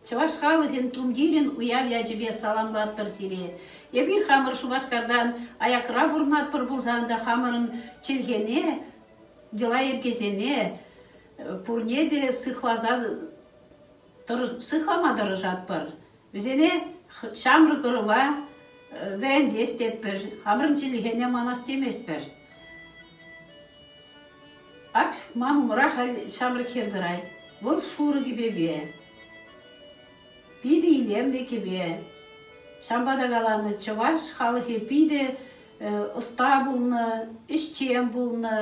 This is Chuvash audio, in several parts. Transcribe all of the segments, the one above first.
Чӑваш халӑхӗн тумтирӗн уяв ячӗпе саламлатпӑр сире. Эпир хамӑр Шупашкартан аякра пурӑнатпӑр пулсан та хамӑрӑн чӗлхене, йӑла-йӗркесене пурне те сыхласа сыхлама тӑрӑшатпӑр. Вӗсене ҫамрӑк ӑрӑва вӗрентес тетпӗр, хамӑрӑн чӗлхене манас теместпӗр. Ать, ман умра халь ҫамрӑк хӗр тӑрать. Вӑл шурӑ кӗпепе, питӗ илемлӗ кӗпе. Ҫавӑнпа та каланӑ, чӑваш халӑхӗ питӗ ӑста пулнӑ, ӗҫчен пулнӑ.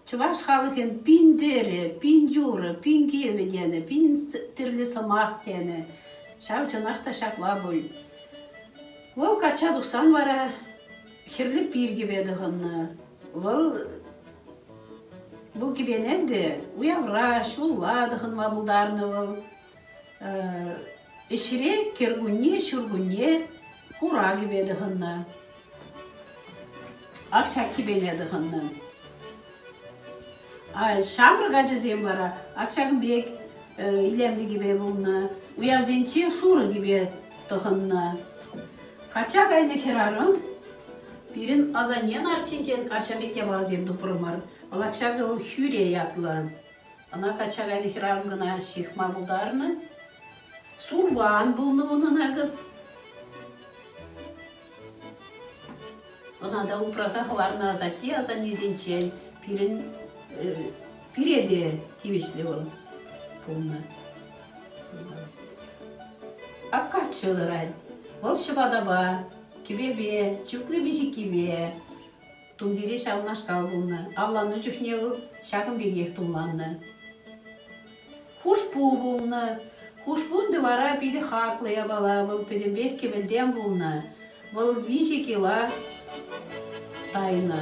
Чӑваш халӑхӗн пин тӗрӗ, пин юрӑ, пин кӗвӗ тенӗ, пин тӗрлӗ сӑмах тенӗ. Ҫав чӑнах та ҫапла пуль. Вӑл качча тухсан вара хӗрлӗ пир кӗпе тӑхӑннӑ. Вӑл Бұл кӗпене те уявра, ҫулла тӑхӑнма пултарнӑ вӑл. Ӗҫре кӗркунне, ҫуркунне хура кӗпе тӑхӑннӑ. Ак ҫак кӗпене тӑхӑннӑ. Ҫамрӑк ачасем вара ак ҫакӑн пек илемлӗ кӗпе пулнӑ. Уявсенче шурӑ кӗпе тӑхӑннӑ. Качча кайнӑ хӗрарӑм пирӗн асаннен арчинчен аҫа пек япаласем тупрӑмӑр. Вӑлах ҫакӑ вӑл Хӳре ятлӑ. Ӑна качча кайнӑ хӗрарӑм кӑна ҫыхма пултарнӑ. Сурван пулнӑ унӑн акӑ. Ӑна та упраса хӑварнӑ асатте асаннесенчен пирӗн пире те тивӗҫлӗ вӑл пулнӑ. Аккаччи ларать. Вӑл ҫӑпатапа, кӗпепе, чухлӗ пиҫиккипе тумтире ҫавнашкал пулнӑ. Авланнӑ чухне вӑл ҫакӑн пекех тумланнӑ. Хушпу пулнӑ. Хушпун вара питӗ хаклӑ япала. Вӑл пӗтӗмпех кӗпӗлтен пулнӑ. Вӑл виҫӗ кила тайнӑ.